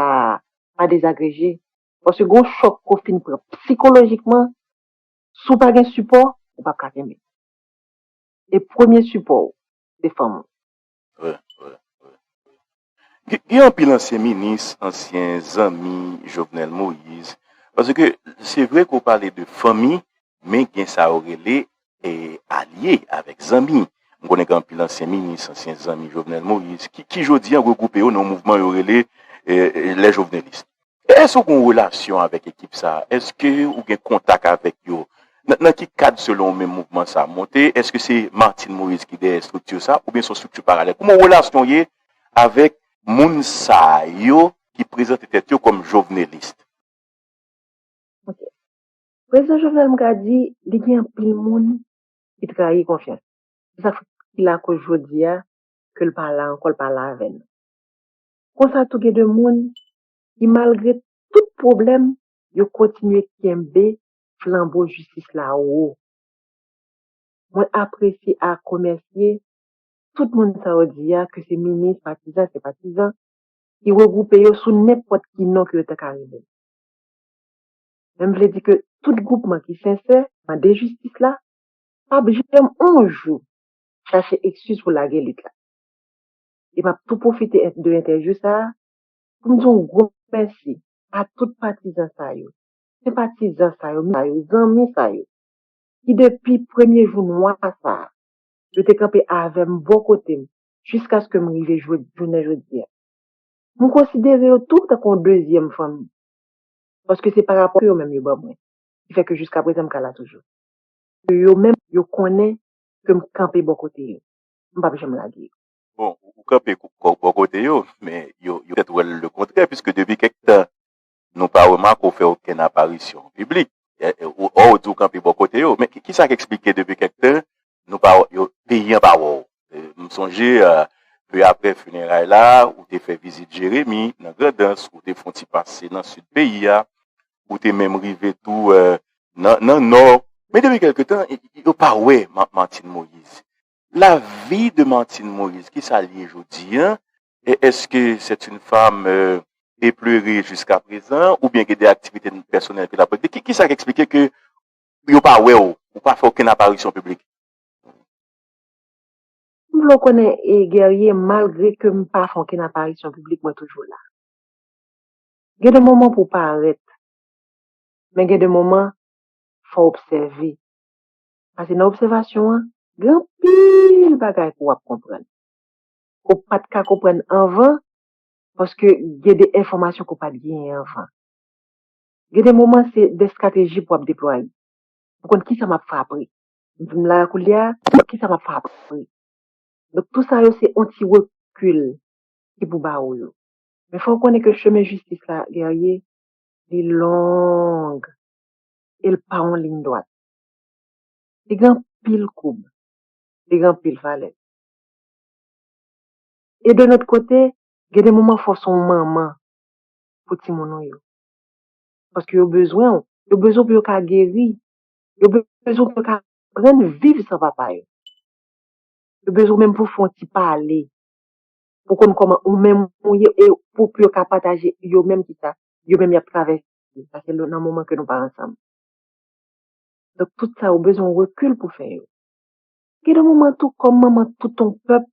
sa a pa dezagreje paske gen yon chòk ke w fin pran psikolojikman, si w pa gen sipò ou pap ka kenbe e premye sipò w se fanm ou. Vre, vre, vre, vre. Gen anpil ansyen minis, ansyen zanmi Jovenel Moïse paske se vre ke w pale de fanmi Men gen sa yo rele alye avèk zanmi. M konnen gen anpil ansyen minis, ansyen zanmi Jovenel Moïse ki ki jodi an regwoupe yo nan yon mouvman yo rele Les Jovenelistes. Èske ou gen yon relasyon avèk ekip sa? Èske ou gen kontak avèk yo? Nan ki kad selon ou menm mouvman sa monte? Èske se Martine Moïse ki dèyè estrikti sa oubyen se yon estrikti paralèl? Kouman relasyon w ye avèk moun sa yo ki prezante tèt yo kòm Jovenelistes? Prezidan Jovenel m ka di li gen anpil moun ki trayi konfyans li. Se sa ki lakoz jodi a ke l pa la ankò, l pa la avè nou. Konsa tou gen de moun ki malgre tout pwoblèm yo kontinye kenbe flanbo jistis la wo. Mwen apresye ak remèsye tout moun sa yo di a ke se minis, patizan, senpatizan ki regwoupe yo sou nenpòt ki non ke yo ta ka rele l. men m vle di ke tout gwoupman ki sensè mande jistis la pa p janm on jou chache ekskiz pou lage lit la. E m ap tou pwofite de entèvyou sa a pou m di on gwo mèsi a tout patizan sa yo, senpatizan sa yo, zanmi sa yo ki depi premye jou mwa sa a yo te kanpe avè m bò kote m jiskaske m rive jounen jodi a. M konsidere yo tou tankou on dezyèm fanmi. paske se pa rapò ke yo menm yo ban mwen ki fè ke jiska prezan m ka la toujou. Ke yo menm yo konnen ke m kanpe bò kote yo, m pap janm lage yo. Bon, ou kanpe bò kote yo, men yo petèt wè l le kontrè, piske depi kèk tan nou pa remake w fè okenn aparisyon an piblik, ò ou di w kanpe bò kote yo. Men kisa k eksplike depi kèk tan nou pa yo peyi an pa wè w. M sonje peu aprè funeray la ou te fè vizit Jeremi nan Grandans, ou te fon ti pase nan Sid peyi a, ou te menm rive tou nan Nò. Men depi kèlke tan yo pa wè Martine Moïse. La vie de Martine Moïse kisa l ye jodi an? Eske c'est une femme epleurée jusqu'à présent oubyen gen de aktivite pèsonèl ke l ap regle? Kisa k eksplike ke pou yo pa wè w, ou pa fè okenn aparisyon piblik. M vle w konnen Guerrier malgre ke m pa fè okenn aparisyon piblik mwen toujou la. Gen de moman pou w parèt, men gen de moman fò w obsève, pase nan obsèvasyon an gen anpil bagay pou w ap konprann ke w pat ka konprann anvan paske gen de enfòmasyon ke w pat genyen anvan. Gen de moman se de strateji pou ap deplwaye. Pou konn kisa map fè apre. M la a koulye a, kisa map fè apre. Donk tou sa yo se on ti rekil ki pou ba ou yo. Men fòw konnen ke chemen jistis la Guerrier, li long e l pa on liy dwat. Li gen anpil koub, li gen anpil vale. E de lòt kote, gen de moman fòw son manman pou timoun ou yo. Paske yo bezwen ou. Yo bezwen ou pou yo ka geri. Yo bezwen ou pou yo ka aprann viv san papa yo. Yo bezwen ou menm pou w fè yon ti pale. Pou w konn kòman ou menm ou ye e pou yo ka pataje yo menm ki sa yo menm y ap travèse. Paske nan moman ke nou pa ansanm. Donk tout sa yo bezwen yon rekil pou fè yo. Gen de moman tou kòm manman tout yon pèp,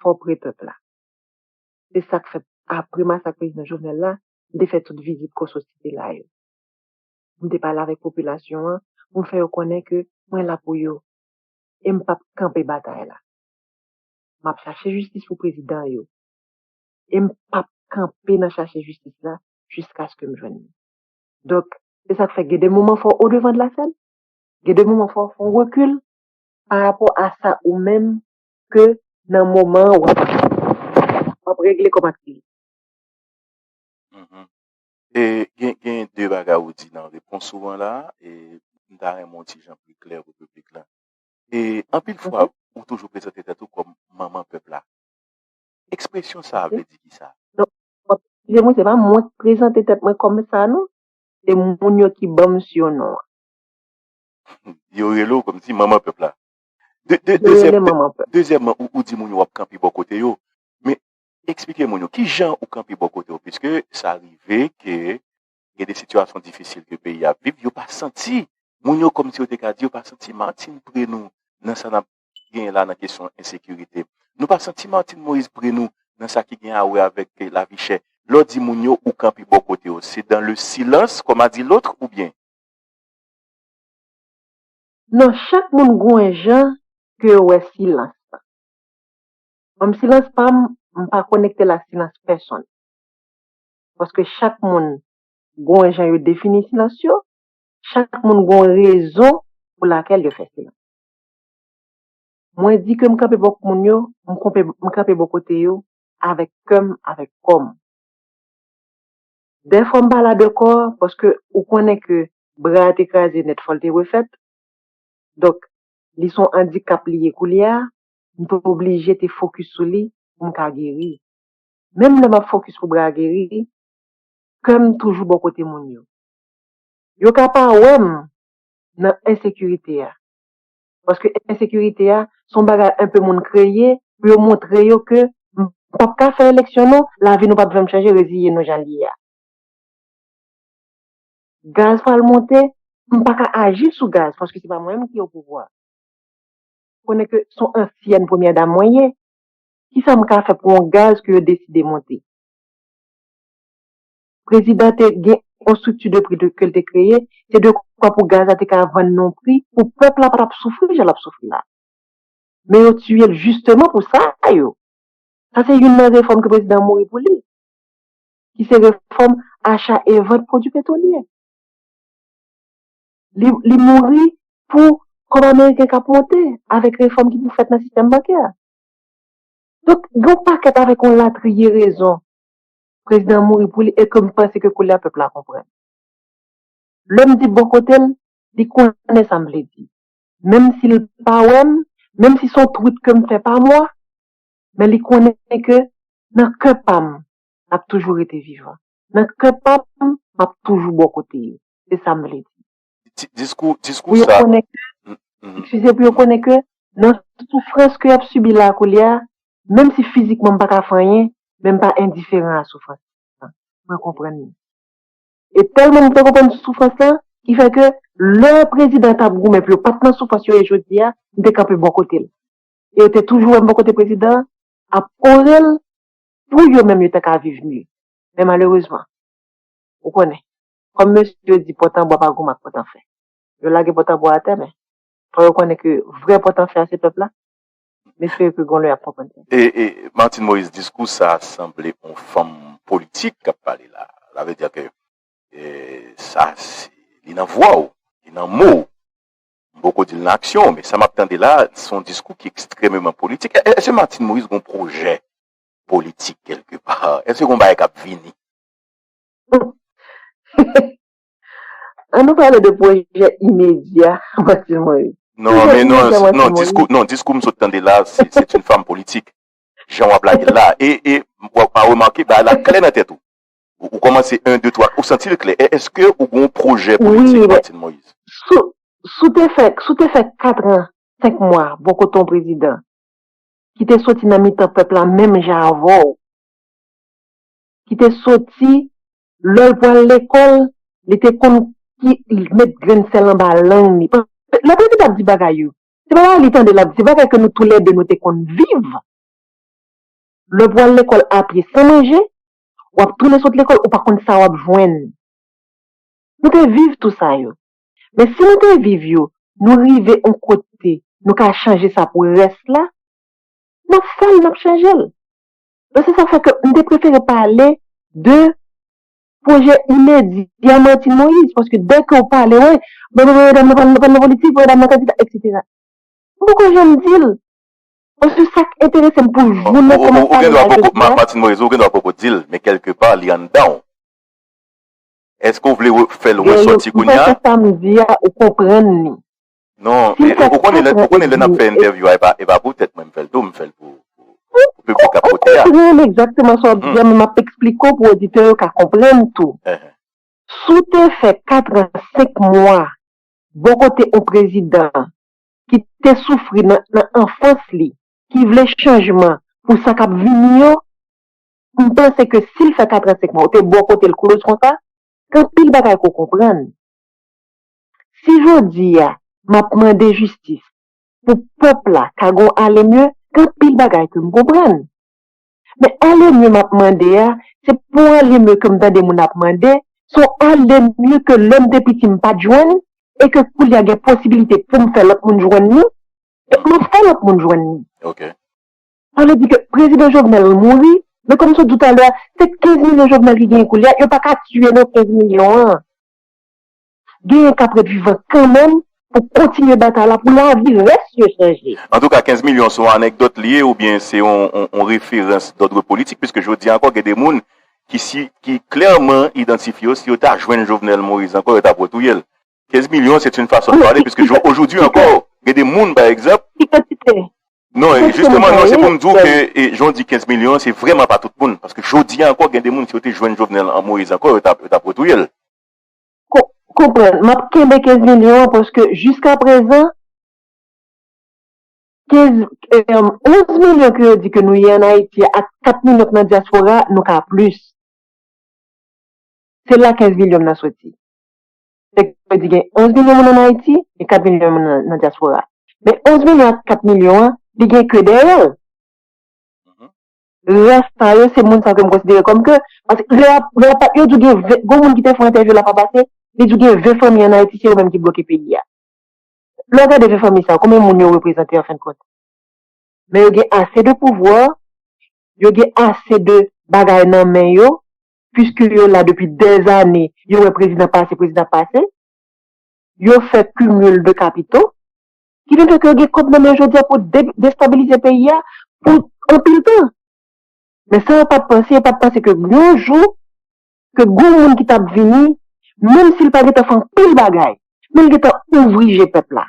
fò w pre pèp la. Se sa k fè, apre masak Prezidan Jovenel la, m te fè tout vizit Kòso ti te la yo. M te pale avèk popilasyon an pou m fè yo konnen ke mwen la pou yo e m p ap kanpe batay la. M ap chache jistis pou prezidan yo e m p ap kanpe nan chache jistis la jiskaske m jwenn li. Donk, se sa k fè gen de moman fò w o devan de la sèn, gen de moman fò w fè yon rekil parapò a sa ou menm ke nan moman an wap wap regle kòb ak li. Gen gen 2 bagay ou di nan repons ou an la e m ta renmen w ti jan pi klè pou piblik la. E anpil fwa ou toujou prezante tèt ou kòm manman pèp la. Ekspresyon sa a vle di ki sa? Non, wap eskize mwen se pa mwen ki prezante tèt mwen kòm sa non, se moun yo ki banm surnom an. Yo rele w kòm si manman pèp la. De, de, Yo dezyèm, rele de, manman pèp. dezyèmman, ou, ou di moun yo w'ap kanpe bò kote yo, men eksplike moun yo ki jan ou kanpe bò kote yo piske sa rive ke gen de sitiyasyon difisil ke peyi a ap viv, yo pa santi, moun yo kòmsi yo te ka di yo pa santi Martine pre nou nan sa n'ap genyen la nan kesyon ensekirite. Nou pa santi Martine Moïse pre nou nan sa ki gen a wè avèk ke lavi chè. Lè w di moun yo ou kanpe bò kote yo, se dans le silence comme a dit l'autre oubyen? Non chak moun gou en jan ke yo wè silans la. Mwen silans pam m pa konektel a silans pèsonn. Paske chak moun gou en jan yo defini silans yo, chak moun gou en rezon pou lakel yo fè silans. Mwen di ke m kanpe bò moun yo, m konpe m kanpe bò kote yo avèk kèm avèk kòm. Dè fwa m pa la dekò paske ou konnen ke bra a te kraze nèt fò l te refèt. Donk li son andikap li ye koulye a, m te oblije te fokis sou li pou m ka geri. Menm lè m ap fokis pou bra a geri, kè m toujou bò kote moun yo. Yo ka pa wè m nan ensekirite a, paske ensekirite a se yon bagay enpe moun kreye pou yo montre yo ke nou p ap ka fè eleksyon non, lavi nou p ap janm chanje reziye nou jan l ye a. Gaz pral monte, m pa ka aji sou gaz paske se pa mwen menm ki opouvwa. Ou konnen ke se yon ansyèn premyè dam mwen ye, kisa m ka fè pou yon gaz ke yo deside monte? Prezidan te gen yon strikti de pri ke l te kreye, se de kwa pou gaz la te ka vann nan yon pri pou pèp la pa t ap soufri jan l ap soufri la. Men yo tiye l jisteman pou sa yo. Sa se youn nan refòm ke prezidan an mouri pou li, ki se refòm acha e vant pwodui petwolye. Li mouri pou kòb ameriken k ap monte avèk refòm ki pou fèt nan sistèm bankè a. Donk gen yon pakèt avèk yon latriye rezon Prezidan an mouri pou li e ke m panse ke koulye a pèp la konprann. Lè m di bò kote m, li konnen sa m vle di. Menm si l pa wè m, menm si son twit ke m fè pa mwa, men li konnen ke nan kè pa m, l ap toujou rete vivan. Nan kè pa m, m ap toujou bò kote yo. Se sa m vle di. Pou yo konnen ke, ekskize, pou yo konnen ke nan soufrans ke y ap sibi la koulye a, Menm si fizikman m pa ka fè anyen, men m pa endiferan a soufrans lan. Mwen konprann li. E tèlman m te konprann soufrans lan, ki fè ke lè prezidan an t ap goumen pou yo pa t nan soufrans yo ye jodi a, m te kanpe bò kote l. E yo te toujou wè m bò kote prezidan an, ap ore l pou yo menm yo ta ka viv mye. Men malerezman, ou konnen, kòm mesye yo di pòtanbwa pa goumen ak pòtanfè. Yo lage pòtanbwa atè men, fò yo konnen ke vrè pòtanfè a se pèp la. Mesye ke gon lè yap konprann sa. E e Martine Moise diskou sa sanble on fanm politik kap pale la. Sa vle dire ke e sa se li nan vwa w, li nan mo w. M poko di l nan aksyon w men sa map tande la se yon diskou ki ekstrememan politik. Eske Martine Moise gon pwojè politik kelke pa? Eske gon bagay kap vini? An nou pale de pwojè imedya Martine Moïse. Non, men non, diskou m sot tande la, se c'est une femme politique. Jan w ap lage l la. E, e, w ap remake bagay la klè nan tèt ou. Ou kòmanse 1, 2, 3, ou santi l klè. Èske ou gen yon pwojè politik Martine Moïse? Wi, si w te fè, si w te fè 4 an, 5 mwa bò kote yon prezidan ki te soti nan mitan pèp la menm jan avè w, ki te soti Lè l pral lekòl, li te konn ki met grenn sèl anba lang li. Lè Prezida ap di bagay yo, se pa bagay li tande l ap di, se bagay ke nou toulède nou te konn viv. Lè w pral lekòl apye san manje, w ap tounen sot lekòl, ou pa konn sa w ap jwenn. Nou te viv tou sa yo. Men si nou te viv yo, nou rive yon kote nou ka chanje sa pou rès la, n ap fè l, n ap chanje l. Donk se sa k fè ke m te prefere pale de pwojè imedya Martine Moïse. Paske dè ke w pale, wè, m pral pale nan politik, m pral pale nan politik, m pral pale nan kandida, eksetera. M poko janm di l. Paske sa k enterese m pou jounen ke m ap pale la jodi a. Martine Moïse, ou gen dwa poko di l, men kèlke pa li anndan w. Eske w vle fè l resòti kounye a? Gen yon, m panse sa m di a, ou konprann li. Non, ou konnen lè, ou konnen lè nap fè entèvyou a, e pa pou tèt mwen m fèl tou, m fèl pou piblik kap koute a. Ou konprann egzakteman sa wap di a, men map eksplike w pou oditè yo ka konprann tou. Si w te fè 4 an 5 mwa bò kote on prezidan ki te soufri nan anfans li, ki vle chanjman pou sa kap vini yo, m panse ke si l fè 4 an 5 mwa, ou te bò kote l kloz konsa, gen anpil bagay ke w konprann. Si jodi a map mande jistis pou pèp la ka gon ale mye gen anpil bagay kem konprann men ale mye map mande a se pou ale mye kem tande moun ap mande son ale mye ke lèm te piti mpat jwenn e ke koulye a gen posibilite poum fè lòt moun jwenn li donk map fè lòt moun jwenn li sa vle di ke prezidan jovenel mouri men kòm sot di w talè a se 15 milyon jovenel ki genyen koulye a yo paka tiye non 15 milyon an. genyen kap ret vivan kanmenm pou kontinye batay la pou lavi rès yo chanje. Antouka 15 milyon se yon anekdòt li ye oubyen se yon referans dòdre politik piske jodi ankò gen de moun ki klèman idantifye yo si yo ta jwenn Jovenel Moïse ankò yo tap retouye l. 15 milyon se t yn fason de pale piske ojoudwi ankò gen de moun pa egzanp. Ki kantite? Non jisteman non se pou m di w ke jan w di 15 milyon se vrèman pa tout moun paske jodi ankò gen de moun si yo te jwenn Jovenel Moïse ankò yo tap retouye l. Konprann, m ap kenbe 15 milyon an paske jiska prezan 15, 11 milyon ke yo di ke nou ye an Ayiti a ak 4 milyon k nan dyaspora a, nou ka plis. Se la 15 milyon m nan soti. Nèg yo di gen 11 milyon moun an Ayiti, gen 4 milyon moun nan dyaspora. Men 11 milyon ak 4 milyon an, li gen ke dèyè l. Rès tan yo se moun sa yo ke m konsidere kòm ke, paske lè y ap, lè y ap, yo di w gen 20, gen yon moun ki te fè yon entèvyou la fwa pase, li di w gen 20 fanmi an Ayiti se yo menm ki bloke peyi a. Lè w gade 20 fanmi sa yo, konbyen moun yo reprezante an fen de kont? Men yo gen ase de pouvwa, yo gen ase de bagay nan men yo, puiske yo la depi dèzane, yo wè prezidan pase, prezidan pase, yo fè cumul de capitaux, Ki vin fè ke yo gen kòb nan men yo jodi-a pou destabilize peyi-a pou anpil tan. Men sa yo pat panse, yo pat panse ke yon jou, ke gon moun ki tap vini, menm si li pa gen tan fè anpil bagay, men li gen tan ouvri je pèp la.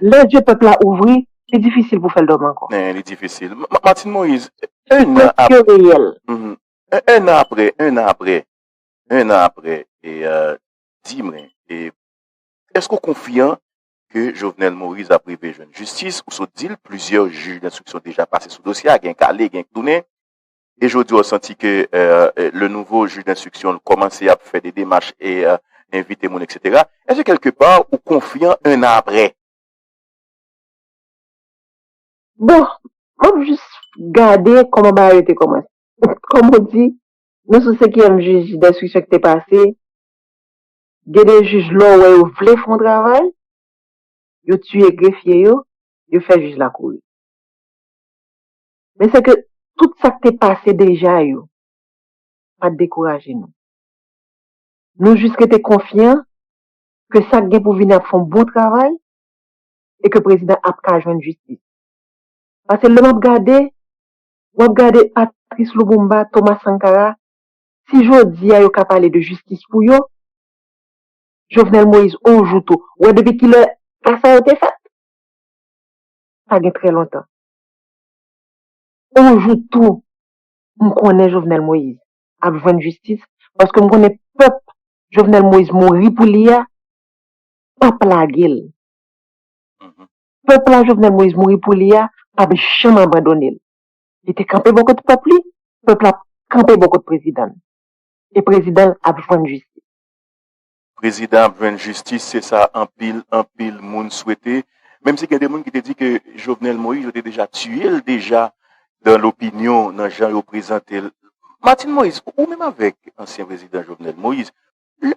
Lè je pèp la ouvri, li difisil pou fèl dòmi ankò. Li difisil. Martine Moise, 1 an aprè. Preske reyèl. 1 an aprè, 1 an aprè, 1 an aprè, di mwen, Èske ou konfyan ke Jovenel Moise ap rive jwenn jistis? Ou sot di l, plizyè jij denstriksyon deja pase sou dosye a, gen k ale, gen k tounen. E jodi a ou santi ke le nouvo jij denstriksyon l kòmanse ap fè de demach e envite moun eksetera. Èske kèlke pa ou konfyan 1 an aprè? Bon, m ap jis gade kòman bagay yo te kòmanse. Kòm ou di, nou sou senkyèm jij denstriksyon ki te pase. Gen de jij lè w wè yo vle fè yon travay, yo tiye grefye yo, yo fè jij la kouri. Men se ke tout sa k te pase deja yo pa t dekouraje nou. Nou jis rete konfyan ke sa k gen pou vini ap fè yon bon travay e ke prezidan ap ka jwenn jistis. Pase lè m ap gade, w ap gade Patrice Lubumba, Thomas Sankara, Si jodi a yo ka pale de jistis pou yo, Jovenel Moïse on jou tou, ou wè depi kilè pa sa yo te fèt? Pa gen trè lontan. On jou tou m konnen Jovenel Moïse ap jwenn jistis paske m konnen pèp Jovenel Moïse mouri pou li a pap lage l. Pèp la Jovenel Moïse mouri pou li a pap janm abandone l. Li te kanpe bò kote pèp li, pèp la kanpe bò kote prezidan l. E prezidan l ap jwenn jistis. Prezidan ap jwenn jistis, se sa anpil, anpil moun swete. Menm si gen de moun ki te di ke Jovenel Moïse yo te deja tiye l deja dan lopinyon, nan jan yo prezante l. Martine Moïse, ou menm avèk ansyen prezidan Jovenel Moïse, lè